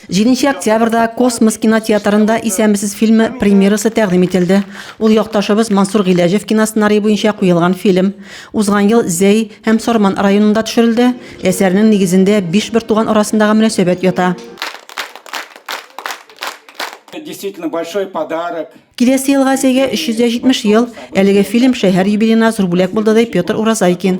Җиденче октябрьдә Космос кинотеатрында Исәнмесез фильмы премьерасы тәкъдим ителде. Ул якташыбыз Мансур Гыйләҗев киносценарие буенча куелган фильм. Узган ел Зәй һәм Сарман районында төшерелде. Әсәрнең нигезендә биш бертуган арасындагы мөнәсәбәт ята. Действительно большой подарок. Киләсе елга Зәйгә 370 ел. Әлеге фильм шәһәр юбилеена зур бүләк булды, ди Петр Уразайкин.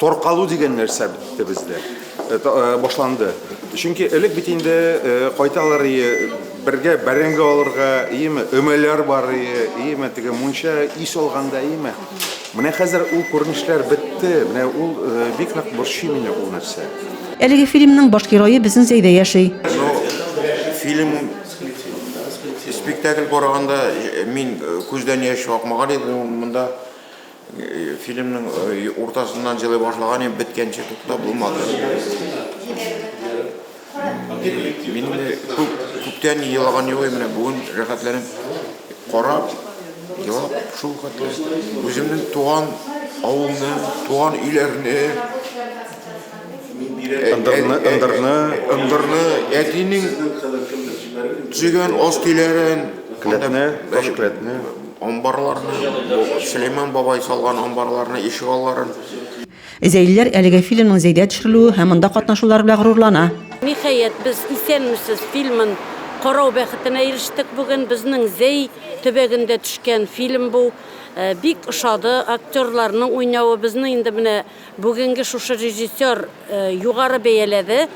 Торкалу дигән нәрсә бетте бездә, э, э, башланды. Чөнки элек бит инде э, кайталар ие, бергә бәрәңге алырга, иеме, өмәләр бар ие, иеме, теге мунча ис алганда, иеме. Менә хәзер ул күренешләр бетте, менә ул бик нык борчый мине ул нәрсә. Әлеге фильмның баш герое безнең Зәйдә яши. Фильм спектакль караганда мин күздән яшь акмаган иде, монда Фильмның уртасыннан җылы башлаган ем, беткәнче туктап булмады. Мин күп, күптән елаган юк, менә бүген рәхәтләнеп карап, елап шул хәтле үземнең туган авылны, туган өйләрне, Ындырны, ындырны. Ындырны, әтинең төзегән ас көйләрен. Келәтне, таш келәтне. Амбарларны, Сөләйман бабай салган амбарларны, ишек алларын. Зәйлеләр әлеге фильмның Зәйдә төшерелүе һәм монда катнашулары белән горурлана. Ниһаять, без Исәнмесез фильмын карау бәхетенә ирештек бүген. Безнең Зәй төбәгендә төшкән фильм бу. Бик ошады, актерларның уйнавы. Безнең инде менә Бүгенге шушы режиссер югары бәяләде,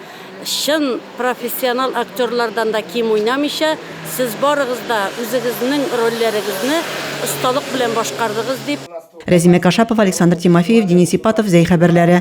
чын профессионал актерлардан да ким уйнамыйча, сез барыгыз да үзегезнең рольләрегезне осталык белән башкардыгыз, дип. Рәзимә Кашапова, Александр Тимофеев, Денис Ипатов, Зәй хәбәрләре.